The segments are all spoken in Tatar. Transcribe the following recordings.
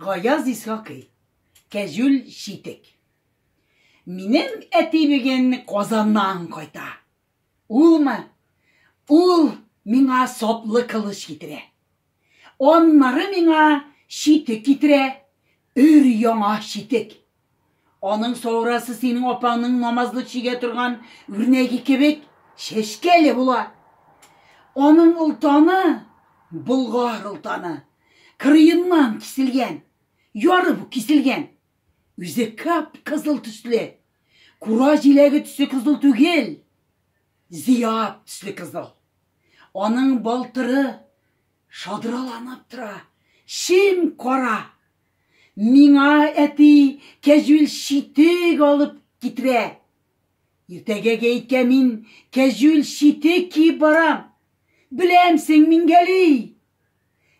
Гаяз Исхакый, Кәҗүл читек. Минем әти бүген Казаннан кайта. Улмы? Ул миңа саплы кылыч китерә. Аннары миңа читек китерә, өр яңа читек. Аның саурасы синең апаңның намазлы чигә торган үрнәге кебек шешкәле була. Аның олтаны болгар олтаны. Кырыеннан киселгән, ярып киселгән. Үзе кап кызыл төсле. Кура җиләге төсе кызыл түгел. Зияб төсле кызыл. Аның балтыры шадраланып тора. Шим кара. Миңа әти кәҗүл читек алып китерә. Иртәгә гәйткә мин кәҗүл читек киеп барам. Беләмсең, Мингәли!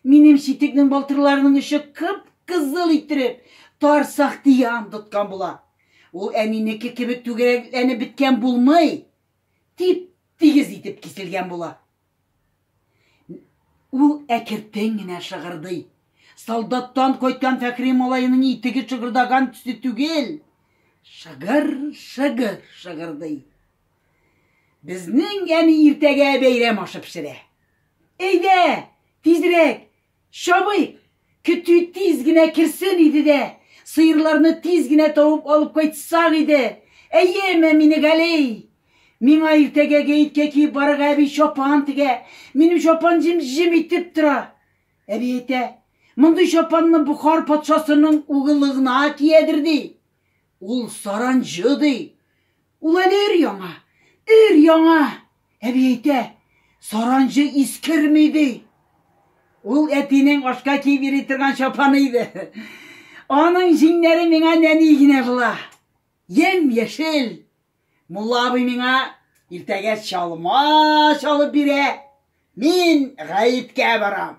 Минем читекнең балтырларының очы кып-кызыл иттереп, тар сахтиян тоткан була. Ул әнинеке кебек түгәрәкләнеп беткән булмый, тип-тигез итеп киселгән була. Ул әкертен генә шыгырдый. Солдаттан кайткан Фәхри малаеның итеге шыгырдаган төсе түгел, шыгыр-шыгыр шыгырдый. Безнең әни иртәгә бәйрәм ашы пешерә. Әйдә, тизрәк, Чабый, көтү тиз генә керсен иде дә, сыерларны тиз генә табып алып кайтсак иде! Әйеме, Минегалей! Миңа иртәгә гәеткә киеп барырга әби чапан тегә. Минем чапан җем-җем итеп тора. Әби әйтә, Мондый чапанны Бохар патшасының угылы гына киядер, ди. Ул саранҗы, ди. Ул әле өр-яңа, өр-яңа! Әби әйтә, саранҗы искерми, ди. Ул әтинең ашка киеп йөри торган чапаны иде. Аның җиңнәре миңа нәни генә була. Ем-яшел. Мулла абый миңа иртәгә чалма чалып бирә. Мин гаеткә барам.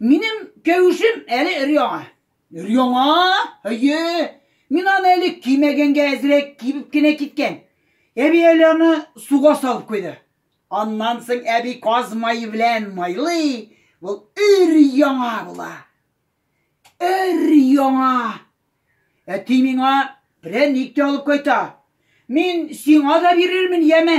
Минем кәвешем әле өр-яңа. Өр-яңа? Әйе. Мин аны әле кимәгәнгә әзрәк кибеп кенә киткән. Әби әле аны суга салып куйды. Аннан соң әби каз мае белән майлый, ул өр-яңа була. Өр-яңа. Әти миңа прәник тә алып кайта. Мин сиңа да бирермен, яме?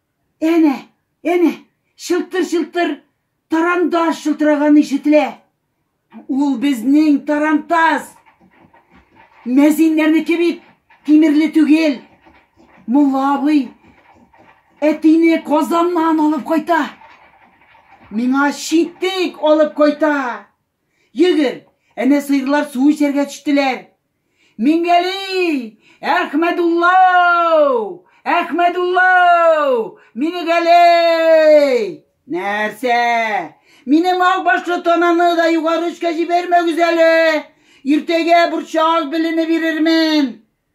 Әнә, әнә, чылтыр-чылтыр тарантас шылтыраганы ишетелә. Ул безнең тарантас! Мәзиннәрнеке бит тимерле түгел. Мулла абый әтине Казаннан алып кайта. Миңа читек алып кайта. Йөгер! Әнә сыерлар су эчәргә төштеләр. Мингәли! Әхмәдулла! Әхмәдулла! Минегәли! Нәрсә? Мине мал башлы тананы да югары өскә җибәрмәгез әле. Иртәгә борчак белене бирермен.